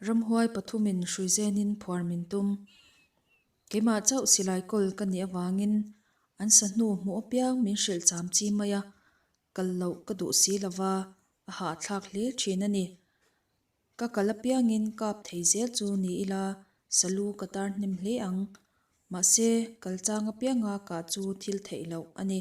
Ramhuai pathumin hruizenin phuar min tum. Keimah chauh silai kawl ka nih avangin an sahnu hmuh apiang min hrilh cham chi mai a, kal loh ka duh si lova a hah thlak hle thin a ni. Ka kal apiangin kap thei zel chu ni ila salu ka tar hnem hle ang. Mahse, kal chang apianga kah chu thil theih loh a ni.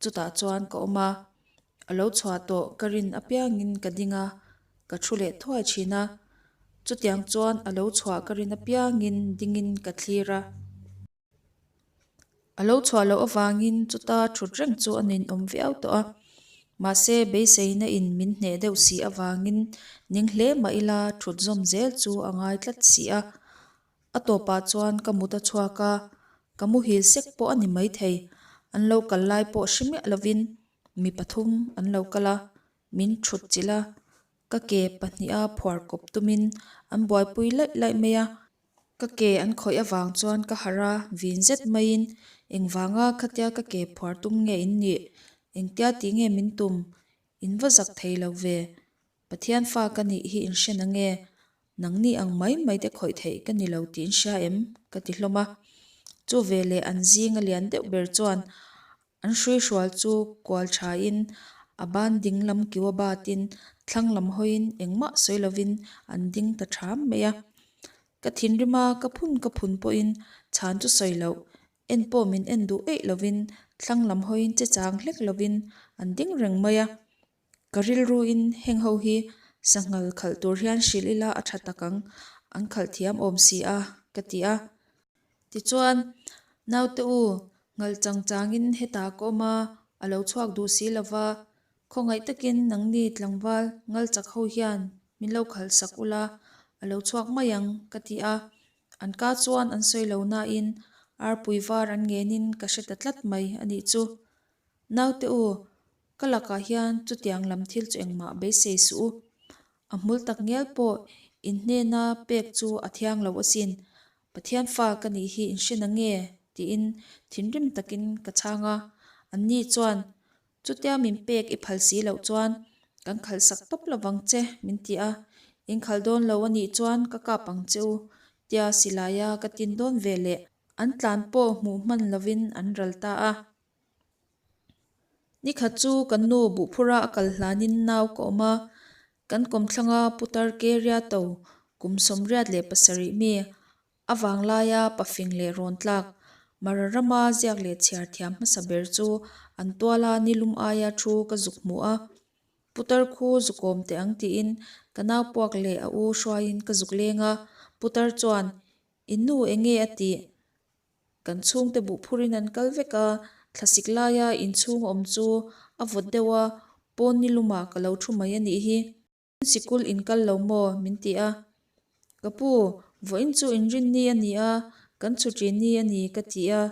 Chutah chuan ka awm a, a lo chhuah tawh ka rin apiangin ka ding a, ka thu leh thuai thin a, chutiang chuan a lo chhuah ka rin apiangin dingin ka thlir a, a lo chhuah loh avangin chuta thut reng chu a nun awm viau tawh a, mahse beiseina in min hneh deuh si avangin ning hle mah ila thut zawm zel chu a ngai tlat si a, A tawpah chuan ka mut a chhuak a, ka muhil sek pawh a ni maithei. An lo kal lai pawh hre miah lovin mi pathum an lo kal a, min thut chilh a, ka ke pahnih a phuar kawp tumin an buaipui laih laih mai a, ka ke an khawih avang chuan ka harh a, vin zet maiin engvanga khatia ka ke phuar tum nge in nih, engtia tih nge min tum, in va zak thei lo ve. Pathian fa ka nih hi in hren ange, nang ni ang mai mai te khawih theih ka ni lo tih in hria em? ka ti hlawm a. Chu ve leh an zinga lian deuh ber chuan an hrui hrual chu kual tha in a ban ding lam kiu a bat in thlang lam hawi in engmah sawi lo in an ding ta tham mai a. Ka thinrim a ka phun ka phun pawh in chhan chu sawi loh, en pawh min en duh eih lo in thlang lam hawi in che chang hlek lo in an ding reng mai a. Ka rilru in heng ho hi sanghal khalh tur hian hrilh ila a tha tak ang, an khalh thiam awm si a, ka ti a. Tichuan, Naute u, ngalh chang chang in heta ka awm a, a lo chhuak duh si lo va, khawngaih tak in nangni tlangval ngal chak ho hian min lo khal sak u la, a lo chhuak mai ang, ka ti a. An ka chuan an sawi lo nain arpui var an ngen in ka hre ta tlat mai a nih chu. Naute u, Ka lakah hian chutiang lam thil chu engmah beisei suh u. A hmul tak ngial pawh inhnena pek chu a thiang lo asin. Pathian fa ka nih hi in hrian ange tiin thinrim takin ka chhang a. Anni chuan, Chutia min pek i phal si loh chuan kan khalhsak tawp lovang che, min ti a. In khal dawn lo a nih chuan ka kap ang che u, tia silai a ka tin dawn veleh. An tlan pawh hmuh hman lovin an ral ta a. Nikhat chu kan nu buhphura a kal hlanin nau ka awm a, kan kawmthlanga pu Tarkeria to kum sawmriat leh pasarih mi, a vang laia pa fing leh rawn tlak, Mara rama ziak leh chhiar thiam hmasa ber chu an tuala ni lum aia thu ka zuk hmu a, Pu Tarkhu zukawm teh ang tiin ka nau puak leh a u hruaiin ka zuk leng a, Pu Tar chuan, I nu enge a tih? Kan chhungte buh phurin an kal vek a, thlasik laia inchhung awm chu a vawt deuh a, pawn ni luma ka lo thu mai a nih hi. In sikul in kal lo maw? min ti a, ka pu, vawh in chu inrin ni a ni a, kan chhuṭi ni a ni ka ti a,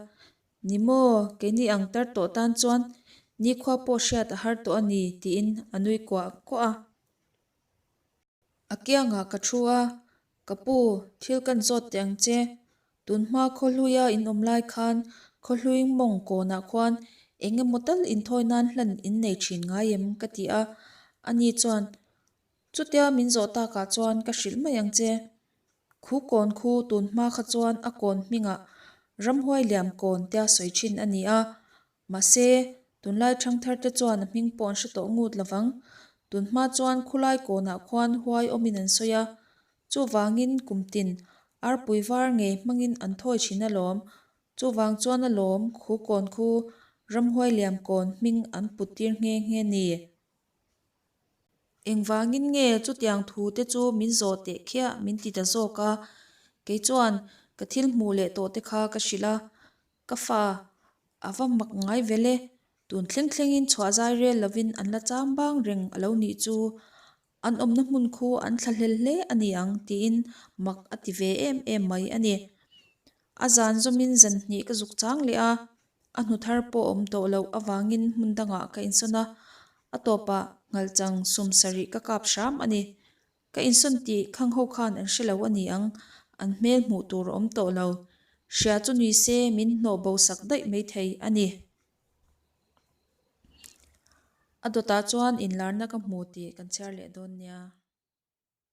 ni maw, keini ang tar tawh tan chuan ni khua pawh hriat a har tawh a ni tiin a nui kuah kuah a. A kiangah ka thu a, Ka pu, thil kan zawt teh ang che. Tun hma khawhluia in awm lai khan khawhlui mawng kawnah khuan eng emaw tal inthawi nan hlan in nei thin ngai em? ka ti a. A ni chuan, Chutia min zawh takah chuan ka hrilh mai ang che. Khu kawn khu tun hma kha chuan a kawn hmingah ramhuai liam kawn tia sawi thin a ni a. Mahse, tunlai thangthar te chuan a hming pawh an hre tawh ngut lo vang. Tun hma chuan khulai kawnah khuan huai awmin an sawi a, chuvangin kum tin, arpui var ngei hmangin an thawi thin alawm. Chuvang chuan a lawm khu kawn khu ramhuai liam kawn hming an put tir nghe nghe ni. Engvangin nge chutiang thu te chu min zawh teh khiah min ti ta zawk a, kei chuan ka thil hmuh leh tawhte kha ka hrilh a, Ka fa, a va mak ngai vel e, tun thleng thlengin chhuah zai rel lovin an la chang bang reng a lo nih chu, an awmna hmun khu an thla hlel hle a ni ang tiin mak a ti ve em em mai a ni. A zan zawmin zan hnih ka zuk chang leh a, a hnu thar pawh awm tawh loh avangin hmun dangah ka insawn a, a tawpah hngalh chang sum sarih ka kap hram a ni. Ka insawn tih Khang ho khan an hre lo a ni ang, an hmel hmuh tur a awm tawh lo. Hria chu ni se min hnawh bo sak daih mai thei a ni. A dawtah chuan inlarna ka hmu tih kan chhiar leh dawn nia.